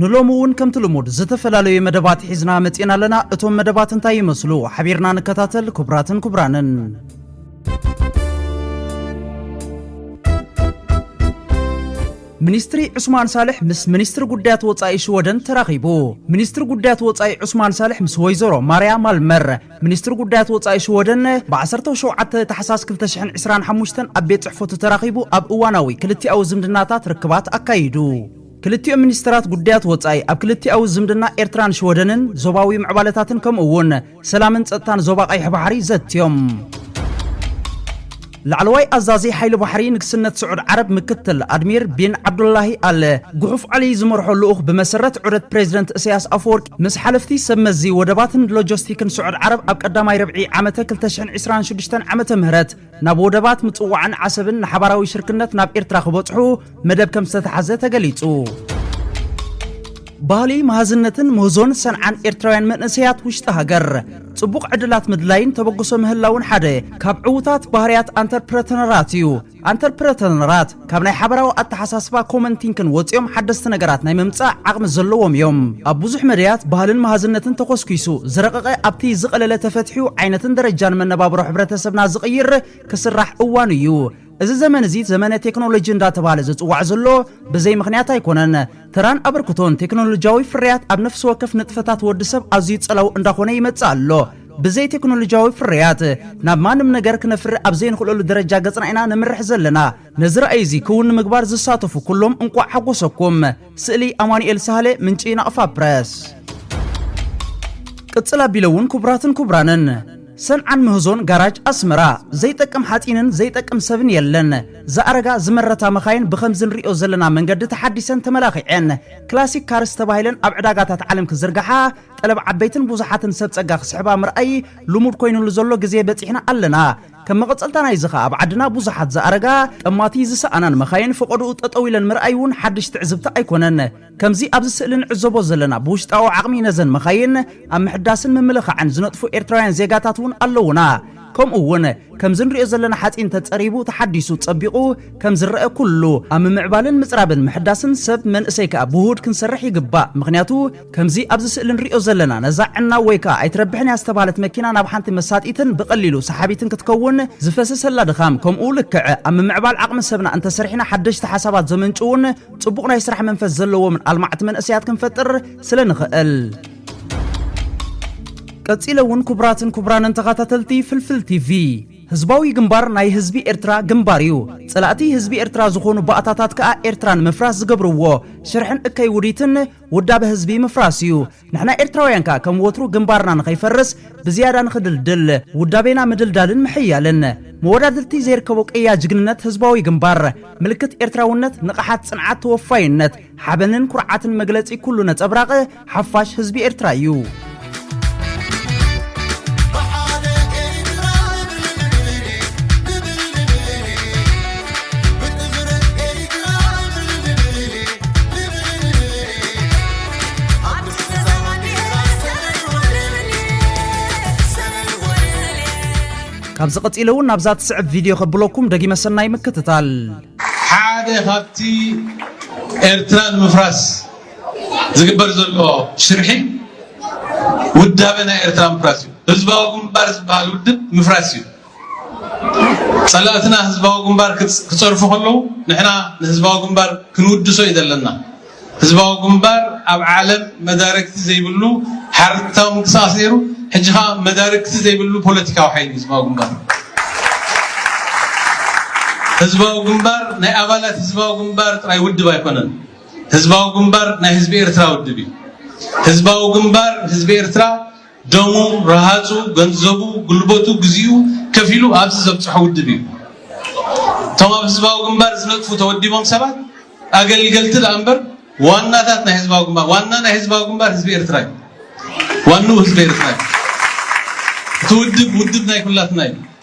ንሎሚ እውን ከምቲ ልሙድ ዝተፈላለዩ መደባት ሒዝና መፂእና ኣለና። እቶም መደባት እንታይ ይመስሉ? ሓቢርና ንከታተል ክቡራትን ክቡራንን። ሚኒስትሪ ዑስማን ሳልሕ ምስ ሚኒስትሪ ጉዳያት ወፃኢ ሽወደን ተራኺቡ። ሚኒስትሪ ጉዳያት ወፃኢ ዑስማን ሳልሕ ምስ ወይዘሮ ማርያ ማልመር ሚኒስትሪ ጉዳያት ወፃኢ ሽወደን ብ17 ታሕሳስ 2025 ኣብ ቤት ፅሕፈቱ ተራኺቡ ኣብ እዋናዊ ክልቲኣዊ ዝምድናታት ርክባት ኣካይዱ። ክልቲኦም ሚኒስተራት ጉዳያት ወጻኢ፣ ኣብ ክልቲኣዊ ዝምድና ኤርትራን ሽወደንን፣ ዞባዊ ምዕባለታትን ከምኡ'ውን ሰላምን ጸጥታን ዞባ ቀይሕ ባሕሪ ዘትዮም። ላዕለዋይ ኣዛዚ ሓይሊ ባሕሪ ንግስነት ስዑድ ዓረብ ምክትል ኣድሚር ቢን ዓብዱላሂ ኣል ጉሑፍ ዓሊ ዝመርሖ ልኡኽ ብመሰረት ዑደት ፕሬዚደንት እሰያስ ኣፈወርቂ ምስ ሓለፍቲ ሰብ መዚ ወደባትን ሎጀስቲክን ስዑድ ዓረብ ኣብ ቀዳማይ ርብዒ ዓመተ ክልተ ሽሕን ዕስራን ሽዱሽተን ዓመተ ምህረት ናብ ወደባት ምጽዋዕን ዓሰብን ንሓባራዊ ሽርክነት ናብ ኤርትራ ክበጽሑ መደብ ከም ዝተተሓዘ ተገሊጹ። ባህሊ መሃዝነትን ምህዞን ሰንዓን ኤርትራውያን መንእሰያት ውሽጢ ሃገር ጽቡቕ ዕድላት ምድላይን ተበግሶ ምህላውን ሓደ ካብ ዕዉታት ባህርያት ኣንተርፕረተነራት እዩ። ኣንተርፕረተነራት ካብ ናይ ሓበራዊ ኣተሓሳስባ ኮመን ቲንክን ወጺኦም ሓደስቲ ነገራት ናይ ምምጻእ ዓቕሚ ዘለዎም እዮም። ኣብ ብዙሕ መዳያት ባህልን መሃዝነትን ተኾስኲሱ፣ ዝረቐቐ ኣብቲ ዝቐለለ ተፈትሑ ዓይነትን ደረጃን መነባብሮ ሕብረተሰብና ዝቕይር ክስራሕ እዋኑ እዩ። እዚ ዘመን እዚ ዘመነ ቴክኖሎጂ እንዳተባህለ ዝጽዋዕ ዘሎ ብዘይ ምኽንያት ኣይኮነን። ተራን ኣበርክቶን ቴክኖሎጂያዊ ፍርያት ኣብ ነፍሲ ወከፍ ንጥፈታት ወዲ ሰብ ኣዝዩ ጸላዊ እንዳኾነ ይመጽእ ኣሎ። ብዘይ ቴክኖሎጂያዊ ፍርያት ናብ ማንም ነገር ክነፍሪ ኣብ ዘይንኽእለሉ ደረጃ ገጽና ኢና ነምርሕ ዘለና። ነዚ ራእይ'ዚ ክውን ንምግባር ዝሳተፉ ኩሎም እንቋዕ ሓጎሰኩም። ስእሊ፣ ኣማኑኤል ሳህለ፣ ምንጪ፣ ናቕፋ ፕረስ። ቅጽል ኣቢለ እውን ክቡራትን ክቡራንን፣ ሰንዓን ምህዞን ጋራጅ ኣስመራ፣ ዘይጠቅም ሓጺንን ዘይጠቅም ሰብን የለን። ዝኣረጋ ዝመረታ መካይን ብኸምዚ ንርእዮ ዘለና መንገዲ ተሓዲሰን ተመላኺዔን ክላሲክ ካርስ ተባሂለን ኣብ ዕዳጋታት ዓለም ክዝርጋሓ፣ ጠለብ ዓበይትን ብዙሓትን ሰብ ጸጋ ክስሕባ ምርኣይ ልሙድ ኮይንሉ ዘሎ ግዜ በጺሕና ኣለና። ከም መቐጸልታ ናይዚ ከኣ ኣብ ዓድና ብዙሓት ዝኣረጋ፣ ጠማቲ ዝሰኣናን መኻይን ፈቖድኡ ጠጠው ኢለን ምርኣይ ውን ሓድሽ ትዕዝብቲ ኣይኮነን። ከምዚ ኣብዚ ስእሊ ንዕዘቦ ዘለና ብውሽጣዊ ዓቕሚ ነዘን መኻይን ኣብ ምሕዳስን ምምልኻዕን ዝነጥፉ ኤርትራውያን ዜጋታት ውን ኣለውና። ከምኡ ውን ከምዚ ንሪኦ ዘለና ሓጺን ተጸሪቡ ተሓዲሱ ጸቢቑ ከም ዝረኣ ኩሉ ኣብ ምምዕባልን ምጽራብን ምሕዳስን ሰብ መንእሰይ ከኣ ብውሁድ ክንሰርሕ ይግባእ ምኽንያቱ ከምዚ ኣብዚ ስእሊ ንሪኦ ዘለና ነዛ ዕናው ወይ ከኣ ኣይትረብሕን እያ ዝተባህለት መኪና ናብ ሓንቲ መሳጢትን ብቐሊሉ ሰሓቢትን ክትከውን ዝፈሰሰላ ድኻም ከምኡ ልክዕ ኣብ ምምዕባል ዓቕሚ ሰብና እንተሰሪሕና ሓደሽቲ ሓሳባት ዘመንጭዉን ጽቡቕ ናይ ስራሕ መንፈስ ዘለዎምን ኣልማዕቲ መንእሰያት ክንፈጥር ስለ ንኽእል ቀጺለ እውን ክቡራትን ክቡራንን ተኸታተልቲ ፍልፍል ቲቪ ህዝባዊ ግንባር ናይ ህዝቢ ኤርትራ ግንባር እዩ ጸላእቲ ህዝቢ ኤርትራ ዝኾኑ ባእታታት ከኣ ኤርትራ ንምፍራስ ዝገብርዎ ሽርሕን እከይ ውዲትን ውዳበ ህዝቢ ምፍራስ እዩ። ንሕና ኤርትራውያን ከኣ ከም ወትሩ ግንባርና ንኸይፈርስ ብዝያዳ ንኽድልድል ውዳቤና ምድልዳልን ምሕያልን። መወዳድርቲ ዘይርከቦ ቅያ ጅግንነት ህዝባዊ ግንባር። ምልክት ኤርትራውነት፣ ንቕሓት፣ ጽንዓት፣ ተወፋይነት፣ ሓበንን ኩርዓትን መግለጺ ኩሉ ነጸብራቕ ሓፋሽ ህዝቢ ኤርትራ እዩ። ካብዚ ቀጺለ እውን ናብዛ ትስዕብ ቪድዮ ከብለኩም ደጊመ ሰናይ ምክትታል። ሓደ ካብቲ ኤርትራ ንምፍራስ ዝግበር ዘሎ ሽርሒ ውዳበ ናይ ኤርትራ ምፍራስ እዩ። ህዝባዊ ግንባር ዝበሃል ውድብ ምፍራስ እዩ። ጸላእትና ህዝባዊ ግንባር ክጸርፉ ከለዉ ንሕና ንህዝባዊ ግንባር ክንውድሶ እዩ ዘለና። ህዝባዊ ግንባር ኣብ ዓለም መዳርግቲ ዘይብሉ ሓርታዊ ምንቅስቃስ ነይሩ፣ ሕጂ ከዓ መዳርግቲ ዘይብሉ ፖለቲካዊ ሓይሊ ህዝባዊ ግንባር ህዝባዊ ግንባር ናይ ኣባላት ህዝባዊ ግንባር ጥራይ ውድብ ኣይኮነን። ህዝባዊ ግንባር ናይ ህዝቢ ኤርትራ ውድብ እዩ። ህዝባዊ ግንባር ህዝቢ ኤርትራ ደሙ፣ ረሃጹ፣ ገንዘቡ፣ ጉልበቱ፣ ግዚኡ ከፊሉ ኣብዚ ዘብጽሖ ውድብ እዩ። እቶም ኣብ ህዝባዊ ግንባር ዝነጥፉ ተወዲቦም ሰባት ኣገልገልቲ ደኣ እምበር ዋናታት ናይ ህዝባዊ ግንባር ዋና ናይ ህዝባዊ ግንባር ህዝቢ ኤርትራ እዩ። ዋንኡ ህዝቢ ኤርትራ እዩ። እቲ ውድብ ውድብ ናይ ኩላትና እዩ።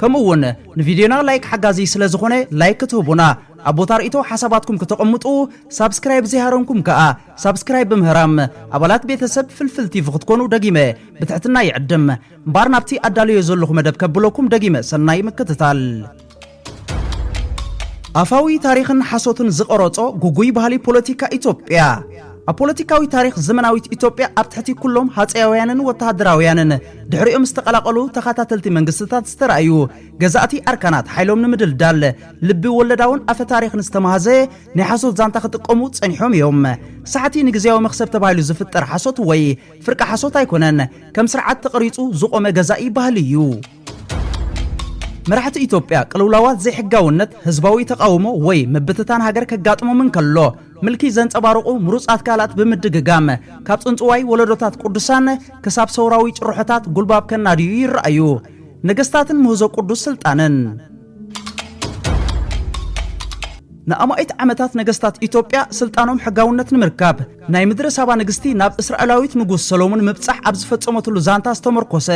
ከምኡ ውን ንቪድዮና ላይክ ሓጋዚ ስለ ዝኾነ ላይክ ክትህቡና ኣብ ቦታ ርእይቶ ሓሳባትኩም ክተቐምጡ ሳብስክራይብ ዘይሃረምኩም ከኣ ሳብስክራይብ ብምህራም ኣባላት ቤተሰብ ፍልፍል ቲቪ ክትኮኑ ደጊመ ብትሕትና ይዕድም እምባር ናብቲ ኣዳልዮ ዘለኹ መደብ ከብለኩም ደጊመ ሰናይ ምክትታል። ኣፋዊ ታሪኽን ሓሶትን ዝቐረጾ ጉጉይ ባህሊ ፖለቲካ ኢትዮጵያ። ኣብ ፖለቲካዊ ታሪኽ ዘመናዊት ኢትዮጵያ ኣብ ትሕቲ ኩሎም ሃጸያውያንን ወተሃደራውያንን ድሕሪኦም ዝተቐላቐሉ ተኸታተልቲ መንግስትታት ዝተራእዩ ገዛእቲ ኣርካናት ሓይሎም ንምድልዳል ልቢ ወለዳውን ኣፈ ታሪኽን ዝተማሃዘ ናይ ሓሶት ዛንታ ክጥቀሙ ጸኒሖም እዮም። ሳሕቲ ንግዜያዊ መኽሰብ ተባሂሉ ዝፍጠር ሓሶት ወይ ፍርቂ ሓሶት ኣይኮነን፣ ከም ስርዓት ተቐሪጹ ዝቖመ ገዛኢ ባህሊ እዩ። መራሕቲ ኢትዮጵያ ቅልውላዋት ዘይሕጋውነት፣ ህዝባዊ ተቓውሞ ወይ ምብትታን ሃገር ከጋጥሞም እንከሎ፣ ምልኪ ዘንጸባርቑ ምሩጻት ቃላት ብምድግጋም፣ ካብ ጽንጽዋይ ወለዶታት ቅዱሳን ክሳብ ሰውራዊ ጭርሖታት ጉልባብ ከናድዩ ይረኣዩ። ነገስታትን ምህዞ ቅዱስ ስልጣንን። ንኣማኢት ዓመታት ነገስታት ኢትዮጵያ ስልጣኖም ሕጋውነት ንምርካብ ናይ ምድረ ሳባ ንግስቲ ናብ እስራኤላዊት ንጉስ ሰሎሙን ምብጻሕ ኣብ ዝፈጸመትሉ ዛንታ ዝተመርኮሰ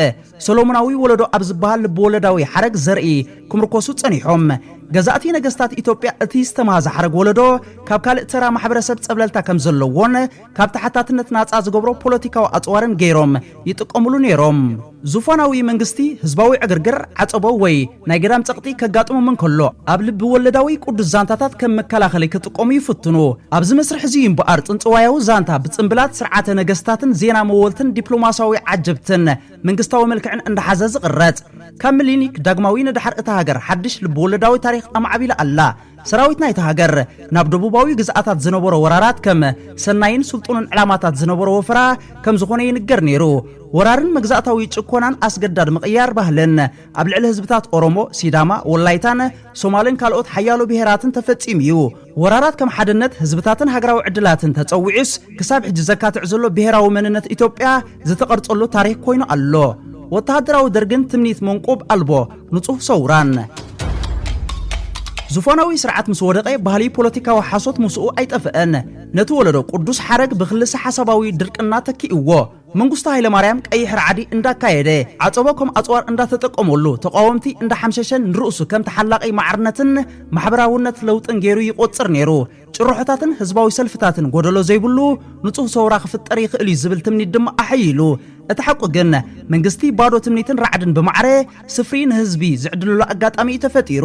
ሰሎሞናዊ ወለዶ ኣብ ዝበሃል ልብወለዳዊ ሓረግ ዘርኢ ክምርኮሱ ጸኒሖም። ገዛእቲ ነገስታት ኢትዮጵያ እቲ ዝተማህዘ ሓረግ ወለዶ ካብ ካልእ ተራ ማሕበረሰብ ጸብለልታ ከም ዘለዎን ካብ ተሓታትነት ናጻ ዝገብሮ ፖለቲካዊ ኣጽዋርን ገይሮም ይጥቀምሉ ነይሮም። ዙፋናዊ መንግስቲ ህዝባዊ ዕግርግር፣ ዓጸቦ ወይ። ናይ ገዳም ጸቕጢ ከጋጥሞም እንከሎ፣ ኣብ ልብ ወለዳዊ ቅዱስ ዛንታታት ከም መከላኸሊ ክጥቀሙ ይፍትኑ። ኣብዚ መስርሕ እዚ እዩ እምበኣር ጽንጽዋያዊ ዛንታ ብጽንብላት ስርዓተ ነገስታትን ዜና መወልትን ዲፕሎማስያዊ ዓጀብትን መንግስታዊ መልክዕን እንዳሓዘ ዝቕረጽ። ካብ ምሊኒክ ዳግማዊ ንደሓር እታ ሃገር ሓድሽ ልብ-ወለዳዊ ታሪኽ ኣማዕቢላ ኣላ። ሰራዊት ናይታ ሃገር ናብ ደቡባዊ ግዝኣታት ዝነበሮ ወራራት ከም ሰናይን ስልጡንን ዕላማታት ዝነበሮ ወፈራ ከም ዝኾነ ይንገር ነይሩ። ወራርን መግዛእታዊ ጭኮናን ኣስገዳድ ምቕያር ባህልን ኣብ ልዕሊ ህዝብታት ኦሮሞ፣ ሲዳማ፣ ወላይታን ሶማልን ካልኦት ሓያሎ ብሄራትን ተፈጺሙ እዩ። ወራራት ከም ሓድነት ህዝብታትን ሃገራዊ ዕድላትን ተጸዊዑስ ክሳብ ሕጂ ዘካትዕ ዘሎ ብሄራዊ መንነት ኢትዮጵያ ዝተቐርጸሉ ታሪኽ ኮይኑ ኣሎ። ወተሃደራዊ ደርግን ትምኒት መንቁብ ኣልቦ ንጹህ ሰውራን ዝፎናዊ ስርዓት ምስ ወደቐ ባህሊ ፖለቲካዊ ሓሶት ምስኡ ኣይጠፍአን። ነቲ ወለዶ ቅዱስ ሓረግ ብክልሰ ሓሳባዊ ድርቅና ተኪእዎ። መንግስቱ ሃይለማርያም ቀይሕ ራዕዲ እንዳካየደ ዓፀቦ ከም ኣፅዋር እንዳተጠቀመሉ ተቃወምቲ እንዳሓምሸሸን ንርእሱ ከም ተሓላቂ ማዕርነትን ማሕበራውነት ለውጥን ገይሩ ይቆፅር ነይሩ። ጭርሖታትን ህዝባዊ ሰልፍታትን ጎደሎ ዘይብሉ ንፁህ ሰውራ ክፍጠር ይኽእል'ዩ ዝብል ትምኒት ድማ ኣሐይሉ። እቲ ሓቁ ግን መንግስቲ ባዶ ትምኒትን ራዕድን ብማዕረ ስፍሪ ንህዝቢ ዝዕድለሉ ኣጋጣሚ'ዩ ተፈጢሩ።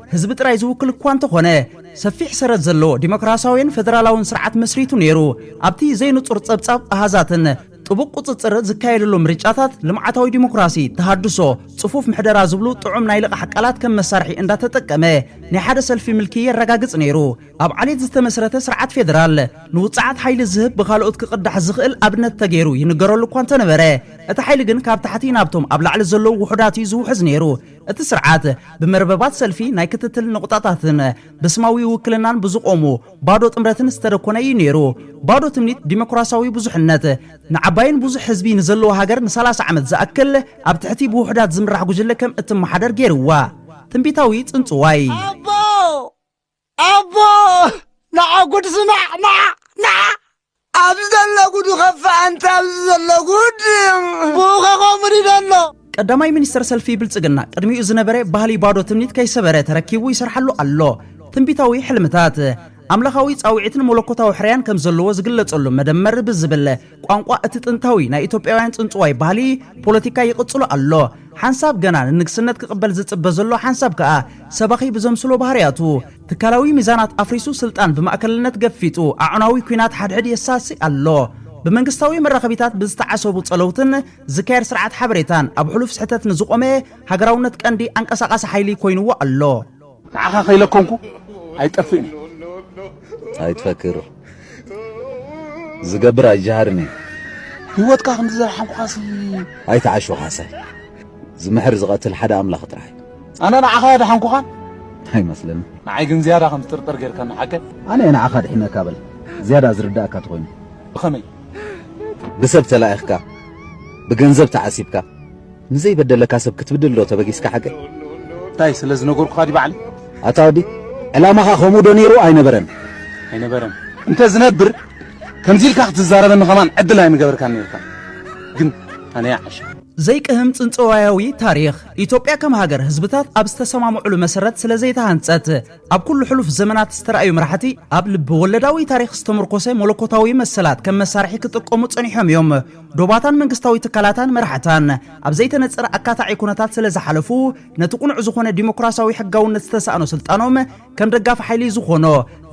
ህዝቢ ጥራይ ዝውክል እኳ እንተኾነ፣ ሰፊሕ ሰረት ዘለዎ ዲሞክራሲያዊን ፈደራላዊን ስርዓት መስሪቱ ነይሩ። ኣብቲ ዘይንጹር ጸብጻብ ኣሃዛትን ጥቡቕ ቁጽጽር ዝካየደሉ ምርጫታት፣ ልምዓታዊ ዲሞክራሲ፣ ተሃድሶ፣ ጽፉፍ ምሕደራ ዝብሉ ጥዑም ናይ ልቓሕ ቃላት ከም መሳርሒ እንዳተጠቀመ ናይ ሓደ ሰልፊ ምልኪ የረጋግጽ ነይሩ። ኣብ ዓሌት ዝተመስረተ ስርዓት ፌደራል ንውጽዓት ሓይሊ ዝህብ ብኻልኦት ክቕዳሕ ዝኽእል ኣብነት ተገይሩ ይንገረሉ እኳ እንተነበረ፣ እቲ ሓይሊ ግን ካብ ታሕቲ ናብቶም ኣብ ላዕሊ ዘለዉ ውሑዳት እዩ ዝውሕዝ ነይሩ። እቲ ስርዓት ብመርበባት ሰልፊ ናይ ክትትል ነቑጣታትን ብስማዊ ውክልናን ብዝቖሙ ባዶ ጥምረትን ዝተደኮነ እዩ ነይሩ። ባዶ ትምኒት ዲሞክራሲያዊ ብዙሕነት ንዓባይን ብዙሕ ህዝቢ ንዘለዋ ሃገር ንሳላሳ ዓመት ዝኣክል ኣብ ትሕቲ ብውሑዳት ዝምራሕ ጉጅለ ከም እትመሓደር ገይርዋ። ትንቢታዊ ጽንጽዋይ! ኣቦ! ኣቦ ንዓ ጉድ ስማዕ ንዓ ንዓ ኣብዚ ዘሎ ጉዱ ከፋ ኣንተ ኣብዚ ዘሎ ጉድ ብኡ ከኸምኡ ሪዶ ኣሎ ቀዳማይ ሚኒስተር ሰልፊ ብልጽግና ቅድሚኡ ዝነበረ ባህሊ ባዶ ትምኒት ከይሰበረ ተረኪቡ ይሰርሓሉ ኣሎ። ትንቢታዊ ሕልምታት ኣምላኻዊ ጻውዒትን መለኮታዊ ሕርያን ከም ዘለዎ ዝግለጸሉ መደመር ብዝብል ቋንቋ እቲ ጥንታዊ ናይ ኢትዮጵያውያን ጽንጽዋይ ባህሊ ፖለቲካ ይቕጽሎ ኣሎ። ሓንሳብ ገና ንንግስነት ክቕበል ዝጽበ ዘሎ ሓንሳብ ከኣ ሰባኺ ብዘምስሎ ባህርያቱ ትካላዊ ሚዛናት ኣፍሪሱ ስልጣን ብማእከልነት ገፊጡ ኣዕናዊ ኩናት ሓድሕድ የሳሲ ኣሎ። ብመንግስታዊ መራኸቢታት ብዝተዓሰቡ ጸለውትን ዝካየድ ስርዓት ሓበሬታን ኣብ ሕሉፍ ስሕተት ንዝቖመ ሃገራውነት ቀንዲ ኣንቀሳቓሲ ሓይሊ ኮይንዎ ኣሎ። ንዓኻ ከይለኮምኩ ኣይጠፍእን እየ። ኣይትፈክር ዝገብር ኣይጀሃርን እየ። ህይወትካ ከምዚ ዘርሓምኩኻሲ። ኣይትዓሹ ካሕሳይ ዝምሕር ዝቐትል ሓደ ኣምላኽ ጥራሕ እዩ። ኣነ ንዓኻ ኣድሓንኩኻን ኣይመስለንን። ንዓይ ግን ዝያዳ ከም ትጥርጠር ጌርካኒ ሓቀይ። ኣነ እየ ንዓኻ ኣድሒነካ በል ዝያዳ ዝርዳእካ ተኾይኑ። ብኸመይ? ብሰብ ተላኢኽካ ብገንዘብ ተዓሲብካ። ንዘይበደለካ ሰብ ክትብድል ዶ ተበጊስካ ሓቀይ? እንታይ ስለ ዝነገርኩኻ ድዩ ባዕለይ? ኣታ ወዲ ዕላማኻ ከምኡ ዶ ነይሩ ኣይነበረን? ኣይነበረን እንተ ዝነብር ከምዚ ኢልካ ክትዛረበኒ ከማን ዕድል ኣይምገበርካን ነይርካ ግን ኣነያ ዓሻ ዘይቅህም ጽንጽዋያዊ ታሪኽ፣ ኢትዮጵያ ከም ሃገር ህዝብታት ኣብ ዝተሰማምዑሉ መሰረት ስለ ዘይተሃንጸት፣ ኣብ ኩሉ ሕሉፍ ዘመናት ዝተራእዩ መራሕቲ ኣብ ልቢ ወለዳዊ ታሪኽ ዝተምርኮሰ መለኮታዊ መሰላት ከም መሳርሒ ክጥቀሙ ጸኒሖም እዮም። ዶባታን መንግስታዊ ትካላታን መራሕታን ኣብ ዘይተነጸረ ኣካታዒ ኩነታት ስለ ዝሓለፉ ነቲ ቁኑዕ ዝኾነ ዲሞክራሲያዊ ሕጋውነት ዝተሳእኖ ስልጣኖም ከም ደጋፊ ሓይሊ ዝኾኖ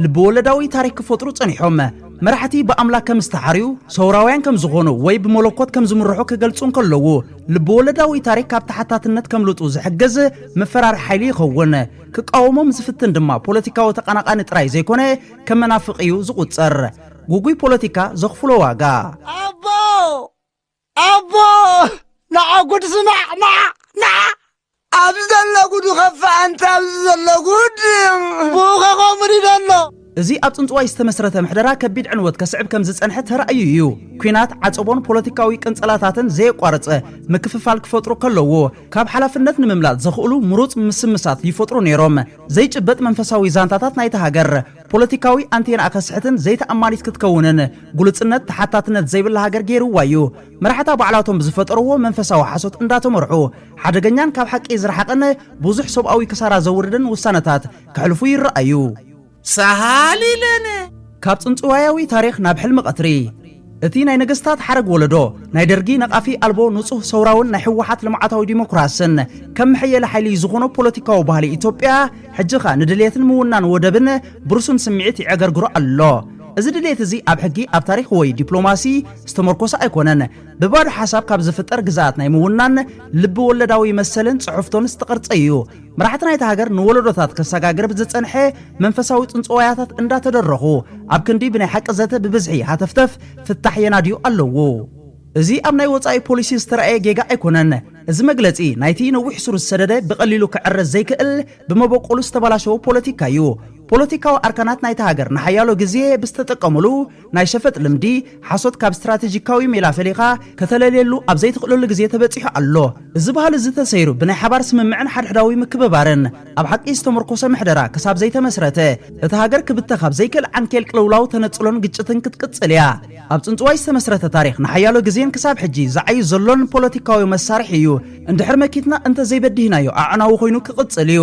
ልቢ ወለዳዊ ታሪክ ክፈጥሩ ጸኒሖም። መራሕቲ ብኣምላክ ከም ዝተሓርዩ፣ ሰውራውያን ከም ዝኾኑ ወይ ብመለኮት ከም ዝምርሑ ክገልጹ እንከለዉ ልቢ ወለዳዊ ታሪክ ካብ ተሓታትነት ከምልጡ ዝሕግዝ መፈራሪ ሓይሊ ይኸውን። ክቃወሞም ዝፍትን ድማ ፖለቲካዊ ተቀናቃኒ ጥራይ ዘይኮነ ከም መናፍቅ እዩ ዝቁጸር። ጉጉይ ፖለቲካ ዘኽፍሎ ዋጋ። ኣቦ ኣቦ ናዓ ጉድ ስማዕ ናዓ ናዓ ኣብዚ ዘሎ ጉድ ይኸፍእ ኣንተ ኣብዚ ዘሎ ጉድ ብኡ ከኸምር እዩ ዘሎ እዚ ኣብ ጽንጽዋይ ዝተመስረተ ምሕደራ ከቢድ ዕንወት ከስዕብ ከም ዝጸንሐ ተራእዩ እዩ። ኲናት፣ ዓጸቦን ፖለቲካዊ ቅንጸላታትን ዘየቋርጸ ምክፍፋል ክፈጥሩ ከለዎ ካብ ሓላፍነት ንምምላጥ ዘኽእሉ ምሩጽ ምስምሳት ይፈጥሩ ነይሮም። ዘይጭበጥ መንፈሳዊ ዛንታታት ናይታ ሃገር ፖለቲካዊ ኣንቴናኣ ከስሕትን ዘይተኣማኒት ክትከውንን ግሉጽነት ተሓታትነት ዘይብላ ሃገር ገይርዋ እዩ። መራሕታ ባዕላቶም ብዝፈጠርዎ መንፈሳዊ ሓሶት እንዳተመርሑ ሓደገኛን ካብ ሓቂ ዝረሓቐን ብዙሕ ሰብኣዊ ክሳራ ዘውርድን ውሳነታት ከሕልፉ ይረኣዩ። ሳህል ኢለነ! ካብ ጽንጽዋያዊ ታሪኽ ናብ ሕልሚ ቀትሪ! እቲ ናይ ነገስታት ሓረግ ወለዶ ናይ ደርጊ ነቓፊ ኣልቦ ንጹህ ሰውራውን ናይ ሕወሓት ልምዓታዊ ዲሞክራስን ከም መሐየሊ ሓይሊ ዝኾኖ ፖለቲካዊ ባህሊ ኢትዮጵያ ሕጂ ኸኣ ንድልየትን ምውናን ወደብን ብርሱን ስምዒት ይዕገርግሮ ኣሎ። እዚ ድልየት እዚ ኣብ ሕጊ፣ ኣብ ታሪኽ ወይ ዲፕሎማሲ ዝተመርኮሰ ኣይኮነን። ብባዶ ሓሳብ ካብ ዝፍጠር ግዝኣት ናይ ምውናን ልቢ ወለዳዊ መሰልን ጽሕፍቶን ዝተቐርጸ እዩ። መራሕቲ ናይታ ሃገር ንወለዶታት ከሰጋግር ብዝጸንሐ መንፈሳዊ ጽንጽዋያታት እንዳተደረኹ ኣብ ክንዲ ብናይ ሓቂ ዘተ ብብዝሒ ሃተፍተፍ ፍታሕ የናድዩ ኣለዉ። እዚ ኣብ ናይ ወጻኢ ፖሊሲ ዝተራእየ ጌጋ ኣይኮነን። እዚ መግለጺ ናይቲ ነዊሕ ሱር ዝሰደደ ብቐሊሉ ክዕረ ዘይክእል ብመበቆሉ ዝተበላሸወ ፖለቲካ'ዩ። ፖለቲካዊ ኣርካናት ናይታ ሃገር ንሓያሎ ግዜ ብዝተጠቀሙሉ፣ ናይ ሸፈጥ ልምዲ፣ ሓሶት ካብ ስትራተጂካዊ ሜላ ፈሊኻ ከተለልየሉ ኣብ ዘይትኽእለሉ ግዜ ተበጺሑ ኣሎ። እዚ ባህሊ እዚ ተሰይሩ ብናይ ሓባር ስምምዕን ሓድሕዳዊ ምክብባርን ኣብ ሓቂ ዝተመርኮሰ ምሕደራ ክሳብ ዘይተመስረተ፣ እታ ሃገር ክብተኽ ኣብ ዘይክእል ዓንኬል ቅልውላው፣ ተነጽሎን ግጭትን ክትቅጽል እያ። ኣብ ጽንጽዋይ ዝተመስረተ ታሪኽ ንሓያሎ ግዜን ክሳብ ሕጂ ዝዓዩ ዘሎን ፖለቲካዊ መሳርሒ እዩ። እንድሕር መኪትና እንተዘይበዲህናዮ ኣዕናዊ ኮይኑ ክቕጽል እዩ።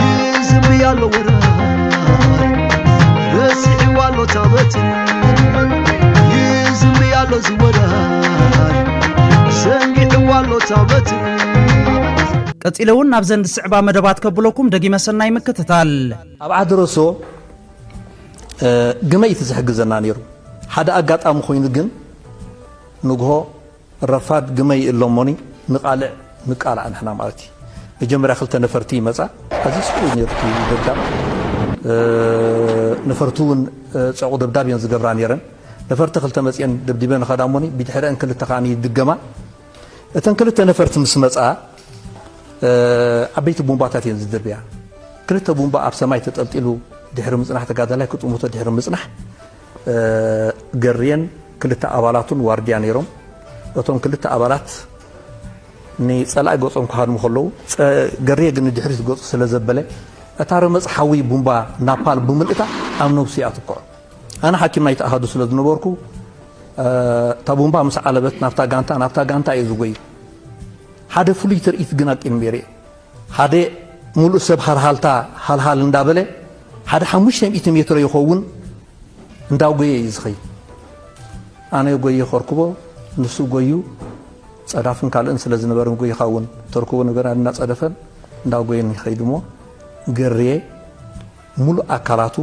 ይዝምሪ ኣሎ ወራይ ረሲዕዋ ኣሎ ታበት ይዝምሪ ኣሎ ዝወራይ ሰንጊዕዋ ኣሎ ታበት ቀጺለ እውን ናብዘን ዝስዕባ መደባት ከብለኩም ደጊመ ሰናይ ምክትታል ኣብ ዓዲ ረሶ ግመይ እቲ ዝሕግዘና ነይሩ ሓደ ኣጋጣሚ ኮይኑ ግን ንግሆ ረፋድ ግመ ይእለ እሞኒ ንቃልዕ ንቃላዕ ንሕና ማለት እዩ መጀመርያ ክልተ ነፈርቲ ይመጻ ኣዝዩ ጽቡቅ እዩ ነይሩ እቲ ደብዳብ ነፈርቲ እውን ጸዕቁ ደብዳብ እየን ዝገብራ ነይረን ነፈርቲ ክልተ መጽኤን ደብዲበን ይኸዳ እሞኒ ብድሕረአን ክልተ ከኣ ይድገማ እተን ክልተ ነፈርቲ ምስ መጻ ዓበይቲ ቡምባታት እየን ዝድርብያ ክልተ ቡምባ ኣብ ሰማይ ተጠልጢሉ ድሕሪ ምጽናሕ ተጋዳላይ ክጥምቶ ድሕሪ ምጽናሕ ገርየን ክልተ ኣባላቱን ዋርድያ ነይሮም። እቶም ክልተ ኣባላት ንጸላኢ ገጾም ክሃድሙ ከለዉ ገርየ ግን ንድሕሪት ገጹ ስለ ዘበለ እታ ረመጽ ሓዊ ቡምባ ናፓል ብምልእታ ኣብ ነብሱ ኣትኩዖ። ኣነ ሓኪም ናይቲ ኣሃዱ ስለ ዝነበርኩ እታ ቡምባ ምስ ዓለበት ናብታ ጋንታ ናብታ ጋንታ እየ ዝጎይ ሓደ ፍሉይ ትርኢት ግን ኣቂም ነይረ ሓደ ሙሉእ ሰብ ሃልሃልታ ሃልሃል እንዳበለ ሓደ ሓሙሽተ ሚእቲ ሜትሮ ይኸውን እንዳጎየ እዩ ዝኸይድ። ኣነ ጎየ ከርኩቦ ንሱ ጎዩ ጸዳፍን ካልእን ስለ ዝነበርን ጎይኻ እውን ተርኩቦ ነገር እናጸደፈን እንዳጎየን ይኸይድ እሞ ገርየ ምሉእ ኣካላቱ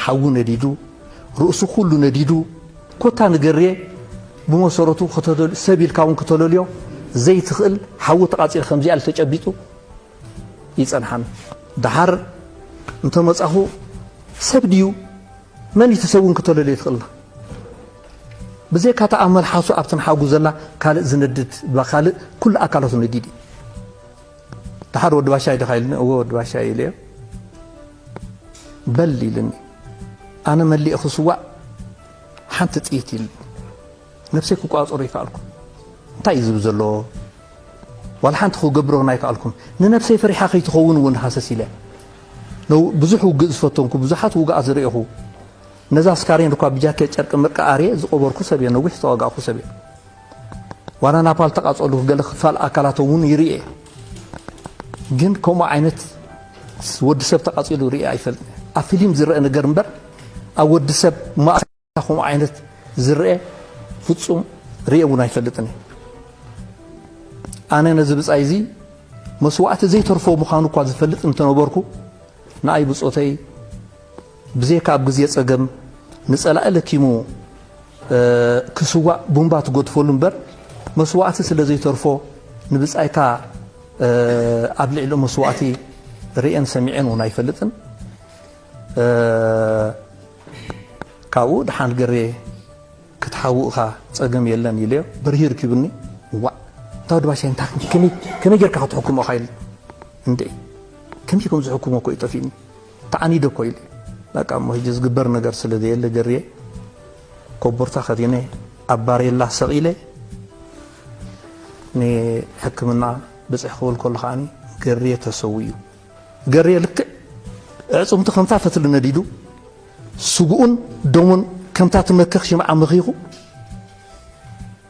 ሓዊ ነዲዱ፣ ርእሱ ኩሉ ነዲዱ፣ ኮታ ንገርየ ብመሰረቱ ከተለል ሰብ ኢልካ እውን ክተለልዮ ዘይትኽእል ሓዊ ተቓፂለ ከምዚኣ ኢሉ ተጨቢጡ ይፀንሓኒ። ደሓር እንተመፃኹ ሰብ ድዩ መን እቲ ሰብ እውን ክተለልዮ ይትኽእልና ብዘይካ እታ ኣብ መልሓሱ ኣብቲ ንሓጉ ዘላ ካልእ ዝነድድ ካልእ ኩሉ ኣካላቱ ነዲድ እዩ። ደሓር ወዲ ባሻይ ዲኻ ኢሉኒ፣ እወ ወዲ ባሻይ እየ ኢለዮ። በል ኢሉኒ፣ ኣነ መሊኤ ክስዋእ ሓንቲ ጥይት ኢሉኒ፣ ነብሰይ ክቋፀሮ ኣይከኣልኩን። እንታይ እዩ ዝብ ዘሎ ዋላ ሓንቲ ክገብሮ እውን ኣይከኣልኩን። ንነብሰይ ፈሪሓ ከይትኸውን እውን ሃሰስ ኢለ ብዙሕ ውግእ ዝፈተንኩ ብዙሓት ውግኣ ዝርእኹ ነዛ ስካሬን እኳ ብጃኬት ጨርቂ ምርቂ ኣርየ ዝቆበርኩ ሰብ እየ። ነዊሕ ዝተዋጋእኩ ሰብ እየ። ዋላ ናፓል ተቃጸሉ ገለ ክፋል ኣካላቶም እውን ይርኤ ግን ከምኡ ዓይነት ወዲ ሰብ ተቃጺሉ ርኤ ኣይፈልጥ ኣብ ፊልም ዝረአ ነገር እምበር ኣብ ወዲ ሰብ ከምኡ ዓይነት ዝረአ ፍጹም ርኤ እውን ኣይፈልጥን እዩ ኣነ ነዚ ብጻይ እዚ መስዋእቲ ዘይተርፎ ምዃኑ እኳ ዝፈልጥ እንተነበርኩ ንኣይ ብጾተይ ብዘይካ ኣብ ግዜ ጸገም ንጸላኢ ለኪሙ ክስዋእ ቡምባ ትገድፈሉ እምበር መስዋእቲ ስለ ዘይተርፎ ንብጻይካ ኣብ ልዕሊ መስዋእቲ ርእየን ሰሚዐን እውን ኣይፈልጥን። ካብኡ ድሓን ገሬ ክትሓው እኻ ጸገም የለን ኢለዮ በርሂ ርኪብኒ ዋዕ እንታ ወዲ ባሻይ እንታ ከመይ ጌርካ ክትሕክሞ ኢኻ ኢል እንድዒ ከመይ ከም ዝሕክሞ እኮ እዩ ጠፊእኒ ተዓኒደ እኮ ኢለ በቃ እሞ ሕጂ ዝግበር ነገር ስለ ዘየለ ገርየ ኮቦርታ ከዲነ ኣብ ባሬላ ሰቕ ኢለ ንሕክምና ብፅሕ ክብል ከሎ ከዓኒ ገርየ ተሰዊኡ ገርየ ልክዕ ዕፅምቱ ከምታ ፈትሊ ነዲዱ ስጉኡን ደሙን ከምታ ትመክኽ ሽምዓ መኺኹ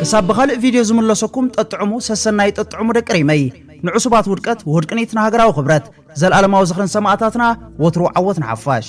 ክሳብ ብኻልእ ቪድዮ ዝምለሰኩም ጠጥዕሙ ሰሰናዩ ጠጥዕሙ ደቂ ሪመይ ንዕሱባት ውድቀት ውህድቅኒት ንሃገራዊ ክብረት ዘልኣለማዊ ዝኽርን ሰማእታትና ወትሩ ዓወት ንሓፋሽ